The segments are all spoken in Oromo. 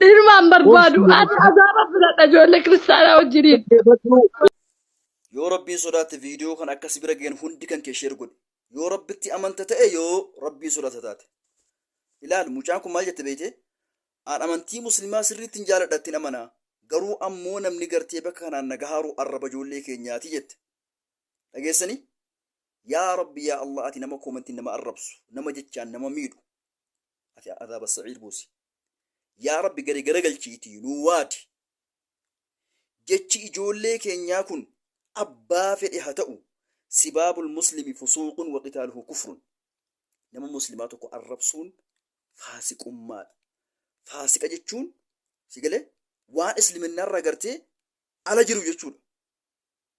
Ilmaan barbaadu. Obsi Ani azaaba filadha ijoollee kiristaanaa wajjiniin. dhaggeeffadhu. Yoo Rabbiin sodaatte viidiyoo kan akka si bira ga'een hundi kan kee sheer godhi. Yoo Rabbitti amanta ta'e yoo Rabbiin sodaata taate. Ilaal mucaan kun maal jette beeyte? Aan amantii muslimaa sirriittiin jaaladha ittiin amana. Garuu ammoo namni gartee bakka kanaan na gahaaru arraba ijoollee keenyaati jette. Dhageessanii? Yaa Rabbi yaa Allah ati nama koomantiin nama arrabsu, nama jechaan nama miidhu. ati azaaba sa'iir buusi yaa rabbi gari garagalchiitii nuu waadi jechi ijoollee keenyaa kun abbaa fedhe ha ta'u sibaabul muslimi fusuuqun wa qitaaluhu kufrun nama muslimaa tokko arrabsuun faasiqummaadha faasiqa jechuun si galee waan isliminnaarraa gartee ala jiru jechuudha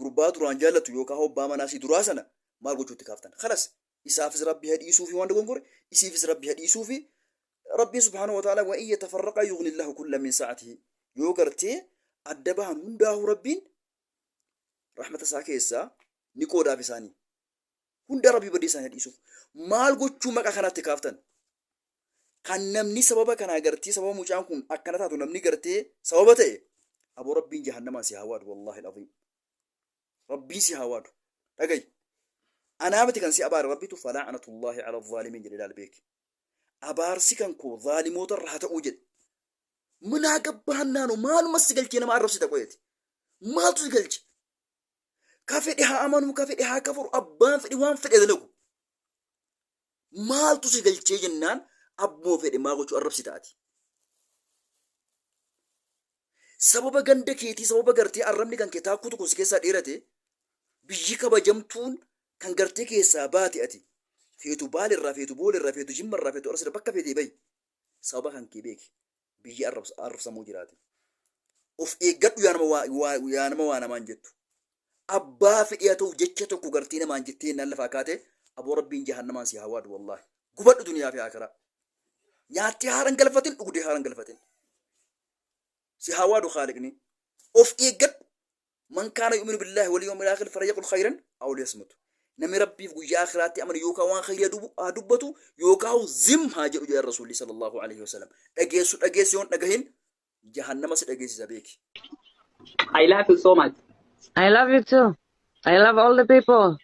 Gurbaa duraan jaallattu yookaa hoo abbaa manaa isii duraa sana maal gochuu itti kaaftan? Khalas isaafis Rabbi ha dhiisuufi waan dogongore isiifis Rabbi ha dhiisuufi Rabbiin subhaanahu wa ta'aalaa wa in yatafarraqaa yughnillaahu kullan min sa'atihi yoo gartee adda bahan hundaahuu Rabbiin rahmata isaa keessaa ni qoodaaf isaanii. hunda rabbi badii isaanii dhiisuuf maal gochuu maqa kanatti kaaftan kan namni sababa kanaa gartee sababa mucaan kun akkana taatu namni gartee sababa ta'e aboo rabbiin jahannamaan si haa waadu wallaahi alazim rabbiin si haa waadu dhagayi anaa miti kan si abaare rabbitu falaa'anatullaahi ala zaalimiin jedhe ilaal beeki abaarsi kan koo zaalimoota irra haa ta'uu jedhe minaa gabbaannaanu maaluma si galchee nama arrabsita qoyeeti maaltu si galche ka fedhe haa amanuu ka fedhe haa kafaru abbaan fedhe waan fedhe dalagu maaltu si galchee jennaan abbuma fedhe maa gochuu arrabsi taati sababa ganda keetii sababa gartee arrabni kan kee taakkuu tokko si keessaa dheerate biyyi kabajamtuun kan gartee keessaa baate ati feetu baalirraa feetu boolerraa feetu jimmarraa feetu arsirra bakka feetee bayi sababa kan kee beeki biyya arrfsamoo jiraati of eeggadhu yaa nama waa waa yaa nama waa namaan jettu abbaa fedhee haa ta'u jecha tokko gartee namaan jettee innaan lafaa kaate aboo rabbiin jahannamaan si haa waadu wallaahi gubadhu duniyaa fi akiraa nyaattee haaran galfatin dhugdee haaran galfatin si haa waadu haaliqni of eeggadhu Man kaana yu'minu billaahi wal yawmil aakhir falyaqul khayran aw liyasmut. Namni Rabbiif guyyaa akhiraatti amanu yookaa waan khayrii haa dubu- haa dubbatu yookaahu zim haa jedhu jedhan Rasuulli sallallahu aleyhi wasallam. Dhageessu dhageessi yoon dhagahin jahannama si dhageessisa beeki. I love you so much. I love you too. I love all the people.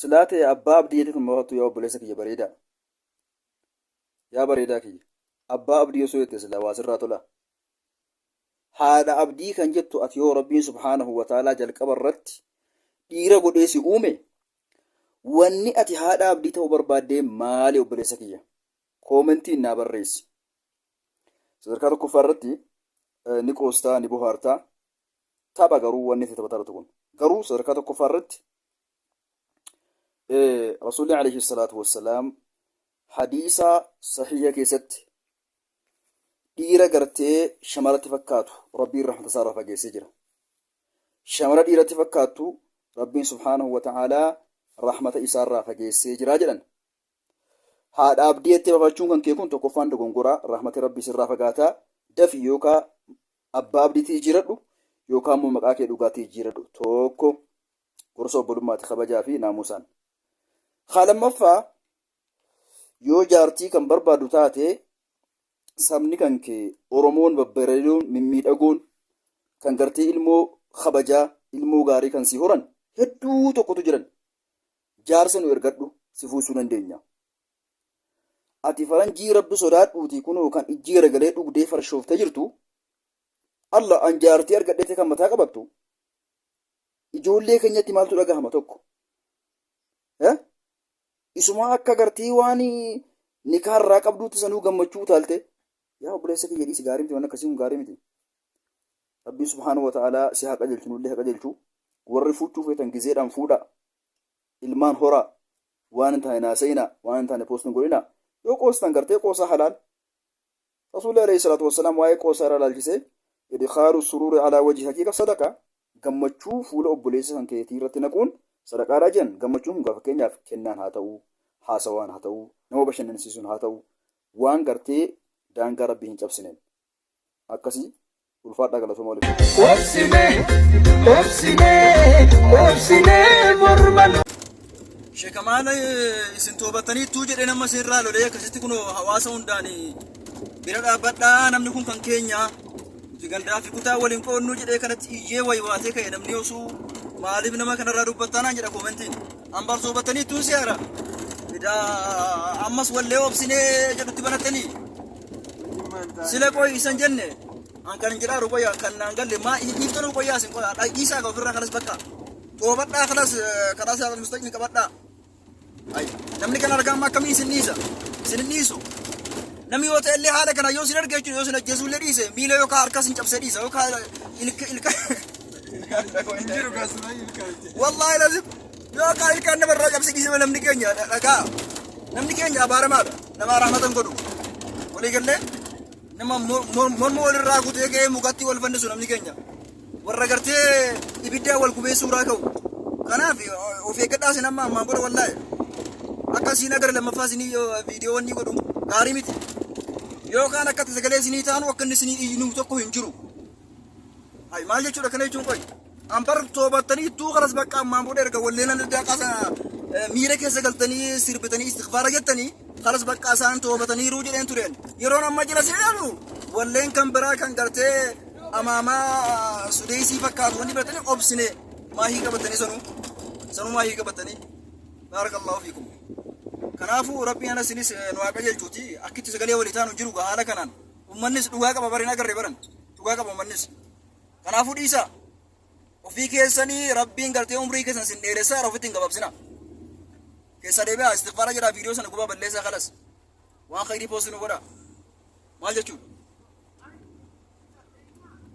Silaa tee abbaa abdii jettee tun mafattu yaa obboleessa kiyya bareedaa. Yaa bareedaa kiyya. Abbaa abdii osoo jette silaa waa sirraa tolaa. Haadha abdii kan jettu ati yoo rabbiin subhaanahu wa ta'aalaa jalqaba irratti dhiira godhee si uume wanni ati haadha abdii ta'uu barbaaddee maali obboleessa kiyya? Koomentiin naa barreessi. Sadarkaa tokkoffaa irratti ni qoostaa ni bohaartaa Tapha garuu wanni itti taphataa jirtu kun. Garuu sadarkaa tokkoffaa irratti Rasuulli alayhi salaatu wassalaam hadiisaa sahiha keessatti dhiira gartee shamaratti fakkaatu rabbiin rahmata isaa irraa fageessee jira. Shamara dhiiratti fakkaattu rabbiin subhaanahu wa ta'aalaa rahmata isaa irraa fageessee jira jedhan. Haadha abdii jettee bafachuun kan kee kun tokkoffaan dogongoraa rahmati rabbii sirraa fagaataa dafi yookaa Abbaa abdiitii ijiiradhu yookaan immoo maqaa kee dhugaatii ijiiradhu. Tokko gorsa obbolummaati kabajaa fi naamusaan. Haa lammaffaa yoo jaartii kan barbaadu taate sabni kan kee Oromoon babbareedoon mimmiidhagoon kan gartee ilmoo kabajaa ilmoo gaarii kan si horan hedduu tokkotu jiran. Jaarsa nu ergadhu si fuusuu dandeenya. ati faranjii rabbi sodaadhuutii kunoo kan ijji garagalee dhugdee farshooftee jirtu alla an jaartii argadheete kan mataa qabattu ijoollee keenyatti maaltu dhagahama tokko Eh? isuma akka gartee waan nikaa irraa qabduutti sanuu gammachuu utaalte yaa obboleessa kiyya dhiisi gaarii miti waan akkasii kun gaarii miti rabbiin subhaanahu wa ta'aalaa si haa qajeelchu nullee haa qajeelchu warri fuuchuu feetan gizeedhaan fuudha ilmaan horaa waan hin taane hin haasa'inaa waan hin taane poostiin godhinaa yoo qoostan gartee qoosaa halaal rasuulli alayhi salaatu wassalaam waa'ee qoosaa irraa ilaalchisee idkhaalu suruuri alaa wajhi haqiiqa sadaqa gammachuu fuula obboleessa kan keetii irratti naquun sadaqaadhaa jedhan gammachuun kun gaafa keenyaaf kennaan haa ta'u haasawaan haa ta'u nama bashannansiisuun haa ta'u waan gartee daangaa rabbii hin cabsineen akkasi ulfaadhaa galatoma waliif. Obsine, obsine, obsine morma nu. Sheeka maal isin toobataniittuu jedhee nama isin irraa lolee akkasitti kun hawaasa hundaan bira dhaabbadhaa namni kun kan keenya nuti gandaa fi kutaa waliin qoodnuu jedhee kanatti iyyee waywaatee ka'e namni osoo maaliif nama kanarraa dubbattaa naan jedha koomentiin. Ambaar soobatanii tuun siyaara. Edaa ammas wallee obsinee jedhutti banattanii. Sila qoy isan jenne. An kan jedhaa jiru qoya kan naan galle maa dhiifta nu qoyaa isin qoya dhagiisaa ka ofirraa kanas bakka. Toobadhaa kanas kanas yaa mustaqni qabadhaa. Ay namni kan argaa amma akkamii isin dhiisa. Isin hin dhiisu. Namni yoo ta'e illee haala kana yoo isin arge jechuudha yoo isin ajjeesuu illee dhiise miila yookaan harka isin cabsee dhiisa yookaan ilka ilka. Injiru kasuma ilkaan. Wallahi lazim. Yoo kaa ilkaan nama irraa cabsi dhiisima namni keenya dhagaa. Namni keenya abaaramaadha. Nama rahmatan godhu. Walii gallee nama mor- mor- morma walirraa kutee ka'ee mukatti wal fannisu namni keenya. Warra gartee ibiddaa wal gubee suuraa ka'u. Kanaaf of eeggadhaa sin amma ammaan booda wallahi. Akka siin agar lammaffaa isinii viidiyoowwan ni godhu. Gaarii miti. Yookaan akka sagalee isinii taanu akka inni isinii iyyinu tokko hin jiru. Hay maal jechuudha kana jechuun qoy. An bar toobattanii ittuu kanas bakka ammaan booda erga wallee nan addaa qasa miira keessa galtanii sirbitanii istighfaara jettanii kanas bakka isaan toobataniiru jedheen tureen. Yeroon amma jala seenaanu walleen kan biraa kan gartee amaamaa sudeesii fakkaatu wanni biratanii obsine maahii qabatanii sanuu sanuu maahii qabatanii baarakallahu fiikum. Kanaafuu rabbiin ana sinis nu haa qajeelchuuti akkitti sagalee walii taanu jiru haala kanaan. Ummannis dhugaa qaba bari hin agarre baran. Dhugaa qaba ummannis. Kanaafuu dhiisaa. Ofii keessanii rabbiin gartee umrii keessan sin dheeressaa irra ofitti hin gabaabsina. Keessa deebi'aa istighfaara jedhaa viidiyoo sana gubaa balleessaa kalas. Waan khayrii poostii nu godha. Maal jechuudha?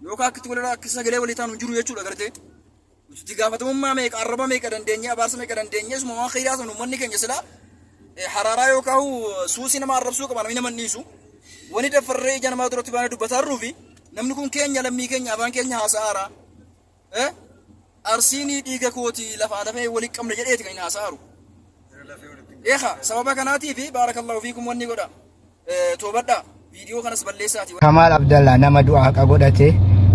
Yookaan akkitti walirraa akka sagalee walii taanu hin jiru jechuudha gartee. Itti gaafatamummaa meeqa, arraba meeqa dandeenye, abaarsa meeqa dandeenye, isuma waan kheyraa sana ummanni keenya silaa eh, haraaraa yookaan huu suusii nama arrabsuu qaba namni nama hin dhiisu. Wani daffarree ija namaa duratti baanee dubbataa jirruufi namni kun keenya lammii keenya afaan keenya haasa'aara. Eh? Arsiinii dhiiga kooti lafaa lafee walitti qabna jedheeti kan hin haasa'aaru. Eeka sababa kanaatiif baarakallahu fiikum wanni godha. Toobadhaa viidiyoo kanas balleessaati. Kamaal Abdallaa nama du'a haqa godhate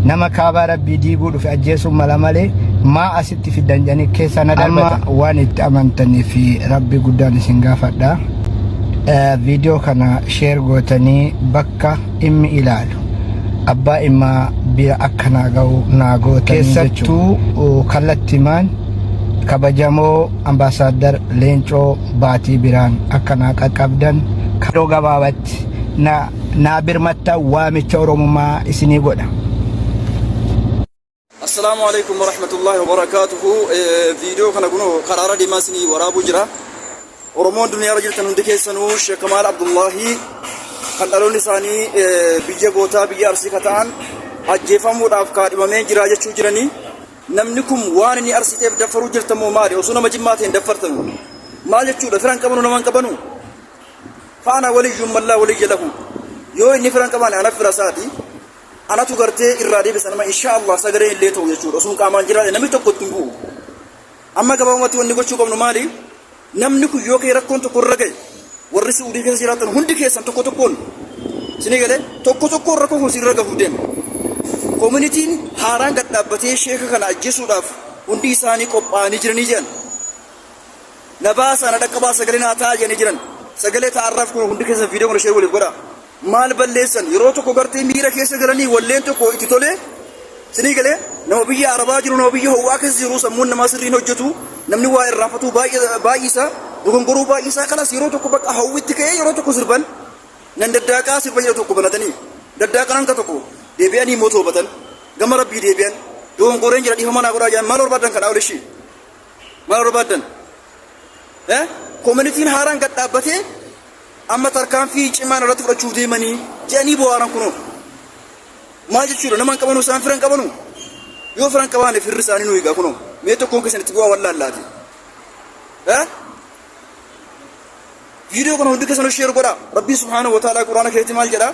nama kaabaa rabbii diiguu dhufe ajjeesuun mala malee maa asitti fiddan jedhanii keessaa na darbata. Amma waan itti amantanii fi rabbi guddaan isin gaafadha. Viidiyoo kana sheer gootanii bakka dhimmi ilaalu abbaa dhimmaa bira akka naa ga'u naa gootanii jechuudha. Keessattuu kallattimaan kabajamoo Ambaasaaddar Leencoo Baatii biraan akka naa qaqqabdan yeroo gabaabatti naa birmatta waamicha Oromummaa isinii godha. Assalaamu alaikum warahmatullahi wabarakatuhu viidiyoo kana kunoo karaara deemaa isinii waraabuu jira Oromoon duniyaarra jirtan hundi keessanuu Sheekh Kamaal Abdullahi kan dhaloonni isaanii biyya gootaa biyya arsii ka ta'an ajjeefamuudhaaf kaadhimamee jira jechuu jiranii Namni kun waan inni arsiteef daffaruu jirta moo maali osoo nama jimmaa ta'een daffartanu maal jechuudha firan qabanu naman qabanu faana waliyyuun mallaa waliyya lahu yoo inni firan qabaane anaf fira isaati anatu gartee irraa deebisa nama insha Allah sagaleen illee ta'u jechuudha osoo qaamaan jiraate namni tokko ittiin bu'u amma gabaabumatti wanni gochuu qabnu maali Namni kun yoo ka'e rakkoon tokko irra ga'e warri Su'uudii keessa jiraattan hundi keessan tokko tokkoon isinii galee tokko tokkoon rakkoo kun isinirra gahuuf deema. Koominitiin haaraan gad dhaabbatee sheeka kana ajjeesuudhaaf hundi isaanii qophaa'anii jiranii jedhan. Na baasaa na dhaqqabaa sagalee naa ta'aa jedhanii jiran. Sagalee ta'arraaf kun hundi keessan viidiyoo kana sheer waliif godhaa. maal balleessan yeroo tokko gartee miira keessa galanii walleen tokko itti tolee sinii galee nama biyya arabaa jiru nama biyya howwaa keessa jiru sammuun namaa sirriin hojjetu namni waa irraanfatuu baay'isa dogongoruu baay'isa kanas yeroo tokko bakka hawwitti ka'ee yeroo tokko sirban nan daddaaqaa sirba jedha tokko banatanii daddaaqan hanga tokko deebi'anii immoo toobatan gama rabbii deebi'an dogongoreen jira dhiifama naa godhaa jedhan maal barbaadan kadhaa olishii maal barbaadan eh koominitiin haaraan gad dhaabbatee Amma tarkaanfii cimaa narratti fudhachuuf deemanii jedhanii boo'aaran kunoo. Maal jechuudha nama hin qabanu isaan fira hin qabanu? Yoo fira hin qabaane firri isaanii nu egaa kunoo. Mee tokkoon keessan itti bu'aa wallaallaati. Eh? Viidiyoo kana hundi keessanuu sheer godhaa. Rabbiin subhaanahu wa ta'aalaa quraana keessatti maal jedhaa?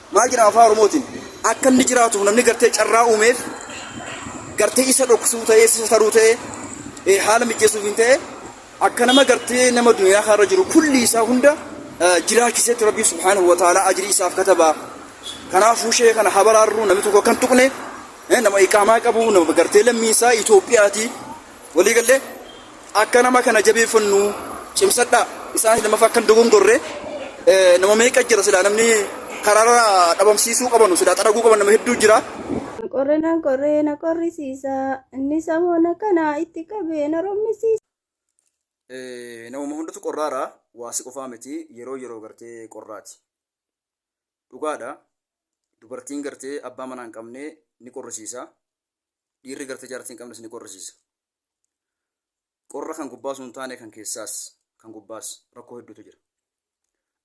Maal jedhama afaan Oromootiin? Akka inni jiraatuuf namni gartee carraa uumeef gartee isa dhoksuu ta'ee isa taruu ta'ee eh, haala mijeessuuf hin ta'ee akka nama gartee nama duniyaa kanarra jiru kulli isaa hunda eh, jiraachisetti rabbii subhaanahu wa ta'ala ajrii isaaf kataba. Kanaafuu shee kana habaraarruu namni tokko kan tuqne eh, nama iqaamaa qabu nama gartee lammii isaa Itoophiyaati walii gallee Akka nama kana jabeeffannu cimsadhaa. Isaanis lammaffaa akka hin dogongorre eh, nama meeqa jira silaa namni karaarra dhabamsiisuu qabanu silaa xaraguu qaban nama hedduu jira. Na qorre na qorre na qorrisiisa. Inni sammuu na kana itti qabee na rommisiisa. Eh, Namuma hundatu qorraara waasi qofaa miti yeroo yeroo gartee qorraati. Dhugaadha dubartiin gartee abbaa manaa hin qabne ni qorrisiisa. Dhiirri gartee jaartii hin qabnes ni qorrisiisa. Qorra kan gubbaa osoo hin taane kan keessaas kan gubbaas rakkoo hedduutu jira.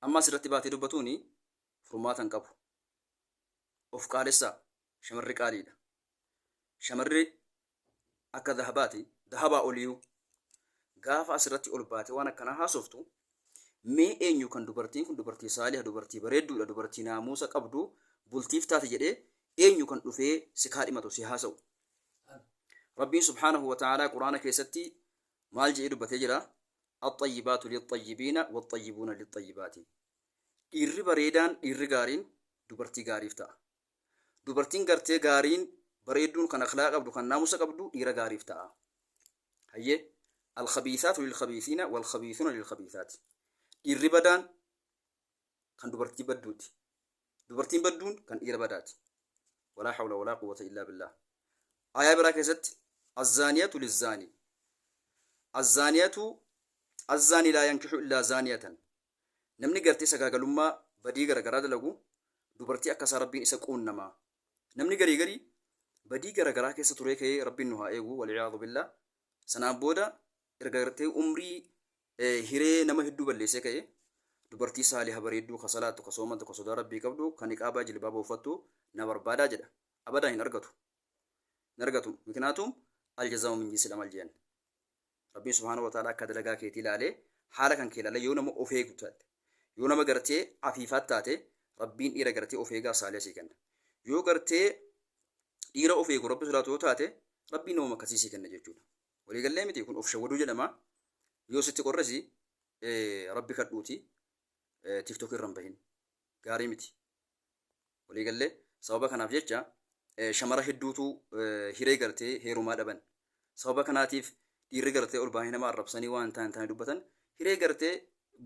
Amma asirratti baatee dubbatuun furmaata hin qabu. Of qaalessaa shamarri qaaliidha. Shamarri akka dahabaati dahabaa oliyyuu gaafa asirratti ol baatee waan akkanaa haasoftu mee eenyu kan dubartiin kun dubartii saaliha dubartii bareedduudha dubartii naamuusa qabdu bultiif taate jedhee eenyu kan dhufee si kaadhimatu si haasa'u Rabbiin subhaanahu wa ta'aalaa Qur'aana keessatti maal jedhee dubbatee jira? Axxayyibaatu lixxayyibiina waxxayyibuuna lixxayyibaati. Dhiirri bareedaan dhiirri gaariin dubartii gaariif ta'a. Dubartiin gartee gaariin bareedduun kan akhlaa qabdu kan naamusa qabdu dhiira gaariif ta'a. Hayyee alkhabiisaatu lilkhabiisiina walkhabiisuuna lilkhabiisaati. Dhiirri badaan kan dubartii badduuti dubartiin badduun kan dhiira badaati walaa hawla walaa quwwata illaa billaah aayaa biraa keessatti azzaaniyatu lizzaanii azzaaniyatu azzaanii laa yankixu illaa zaaniyatan namni gartee sagaagalummaa badii garagaraa dalagu dubartii akka isaa rabbiin isa quunnamaa namni garii garii badii garagaraa keessa turee ka'ee rabbiin nu haa eegu walciyaadu billaa sanaan booda erga gartee umrii Hiree nama hedduu balleessee ka'e. Dubartii saaliha bareedduu ka salaattu, ka soomantu, ka sodaa Rabbii qabdu, ka niqaabaa jilbaaba uffattu na barbaada jedha. Abadan hin argatu. Hin argatu. Miknaatum aljazaa'u min jinsil amal je'an. Rabbiin subhaanahu wa ta'aalaa akka dalagaa keetii laalee, haala kan kee laalee yoo nama of eegu taate, yoo nama gartee afiifaat taate, Rabbiin dhiira gartee of eegaa saaliha sii kenna. Yoo gartee dhiira of eegu Rabbi sodaatu yoo taate, Rabbiin namuma akkasii sii kenna jechuudha. Walii gallee miti kun of shawwaduu jedhama. Yoo sitti qorrisi rabbi kadhuuti tiktok irra hin bahin. Gaarii miti. Walii gallee sababa kanaaf jecha shamara hedduutu hiree gartee heerumaa dhaban. Sababa kanaatiif dhiirri gartee ol baanii nama arrabsanii waan taan taane dubbatan hiree gartee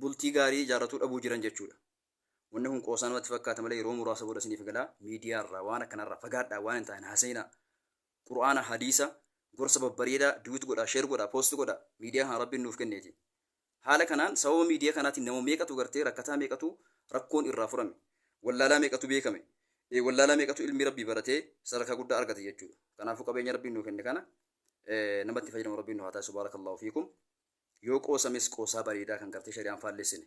bultii gaarii ijaarratuu dhabuu jiran jechuudha. Wanni kun qoosaa namatti fakkaata malee yeroo muraasa booda isiniif gala miidiyaa irraa waan akkanarraa fagaadhaa waan hin taane haasayinaa. Qur'aana, Hadiisa, gorsa babbareedaa, duet godhaa, share godhaa, post godhaa, miidiyaa kana Rabbiin nuuf kenneeti. Haala kanaan sababa miidiyaa kanaatiin nama meeqatu gartee rakkataa meeqatu rakkoon irraa furame. Wallaalaa meeqatu beekame. E wallaalaa meeqatu ilmii Rabbii baratee sadarkaa guddaa argate jechuudha. Kanaafuu qabeenya Rabbiin nuu kenne kana nama itti fayyadamu Rabbiin nu haa taasisu. Baarakallaahu fiikum. Yoo qoosames qoosaa bareedaa kan gartee shari'aan faallessine.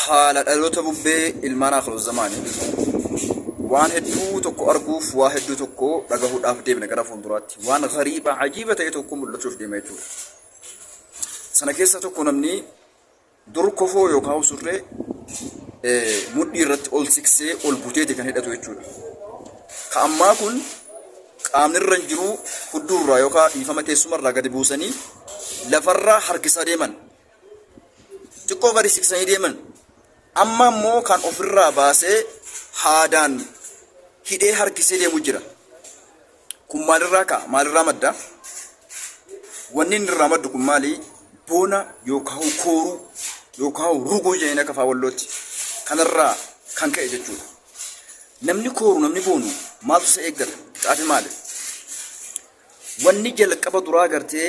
Haala dhaloota bubbee ilmaan Aakhiruzzamaanii waan hedduu tokko arguuf waa hedduu tokko dhagahuudhaaf deemna gara fuulduraatti. Waan gariiba ajiiba ta'e tokko mul'achuuf deema jechuudha. Sana keessaa tokko namni dur kofoo yookaan surree eh, mudhii irratti ol siksee ol buteeti kan hidhatu jechuudha. Ka ammaa kun qaamni irra hin jiru hudduurraa yookaan dhiifama teessumarraa gadi buusanii lafarraa harkisaa deeman. xiqqoo gadi siqsanii deeman amma immoo kan ofirraa baasee haadaan hidhee harkisee deemu jira. Kun maalirraa ka'a? Maalirraa madda? Wanni inni irraa maddu kun maali? Boona yookaan kooruu yookaan ruguu jedhanii akka afaan wallootti kanarraa kan ka'e jechuudha. Namni kooru namni boonu maaltu isa eeggata? Xaafi maali? Wanni jalqaba duraa gartee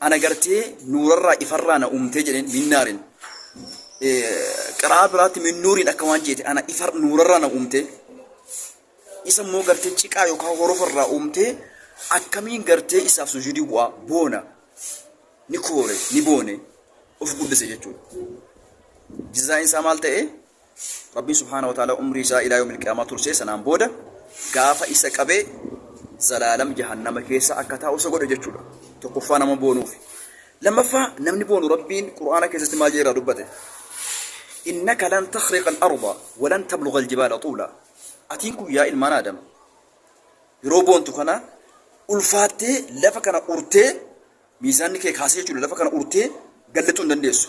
ana gartee nuurarraa ifarraa na uumtee jedheen minnaarin qiraa biraatti minnuuriin akka waan jeete ana ifar nuurarraa na uumtee isa immoo gartee ciqaa yookaan horofarraa uumtee akkamiin gartee isaaf sujuudii bu'aa boona ni koore ni boone of guddise jechuudha. Jizaa'iin isaa maal ta'ee? Rabbiin subhaanahu wa ta'aalaa umrii isaa ilaa yawmil qiyaamaa tursee sanaan booda gaafa isa qabee zalaalam jahannama keessa akka taa'u isa godhe jechuudha. Tokkoffaa nama boonuufi. Lammaffaa namni boonu Rabbiin Qur'aana keessatti maal jedheera dubbate? Innaka lan takhriqa al-arda wa lan tablugha al-jibaala tuula. Atiin kun yaa ilmaan Aadam yeroo boontu kana ulfaattee lafa kana urtee miizaanni kee kaasee jechuudha lafa kana urtee gallixuu hin dandeessu.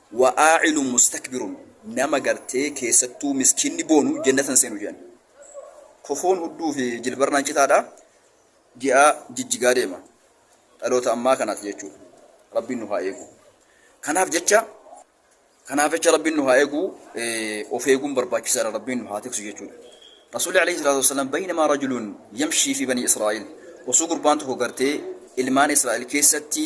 Wa'aa'ilun mustakbirun nama gartee keessattuu miskiinni boonu jennata hin seenu je'an. Kofoon hudduu fi jilbarraan citaadha, ji'a jijjigaa deema. Dhaloota ammaa kanaati jechuudha. Rabbiin nu haa eegu. Kanaaf jecha kanaaf jecha Rabbiin nu haa eegu of eeguun barbaachisaadha Rabbiin nu haa tiksu jechuudha. Rasuulli alayhi salaatu wassalaam baynamaa rajulun yamshii fi banii Israa'il osoo gurbaan tokko gartee ilmaan Israa'il keessatti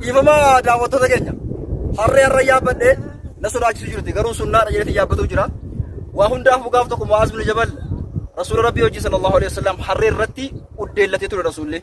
Dhiifama daawwattoota keenya harree harra yaabbadhe na sodaachisu jirti garuu sunnaadha jedhee yaabbatuu jira. Waa hundaaf gaaf tokko Mu'aaz bin Jabal Rasuula Rabbii hojii sallallahu alaihi wasallam harree irratti uddeellatee ture Rasuullee.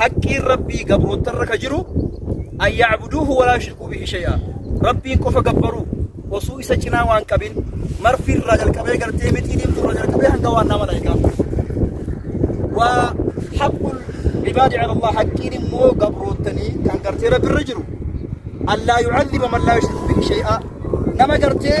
Haqqiin Rabbii gabroottarra ka jiru an ya'buduuhu walaa yushrikuu bihi shay'a. Rabbiin qofa gabbaruu osuu isa cinaa waan qabin marfi irraa jalqabee gartee mixii diimtuu irraa jalqabee hanga waannaa malaa'ikaaf jiru. Wa haqqul ibaadi ala Allah haqqiin immoo gabroottanii kan gartee Rabbi irra jiru. Allaa yu'adhiba man laa yushriku bihi shay'a. Nama gartee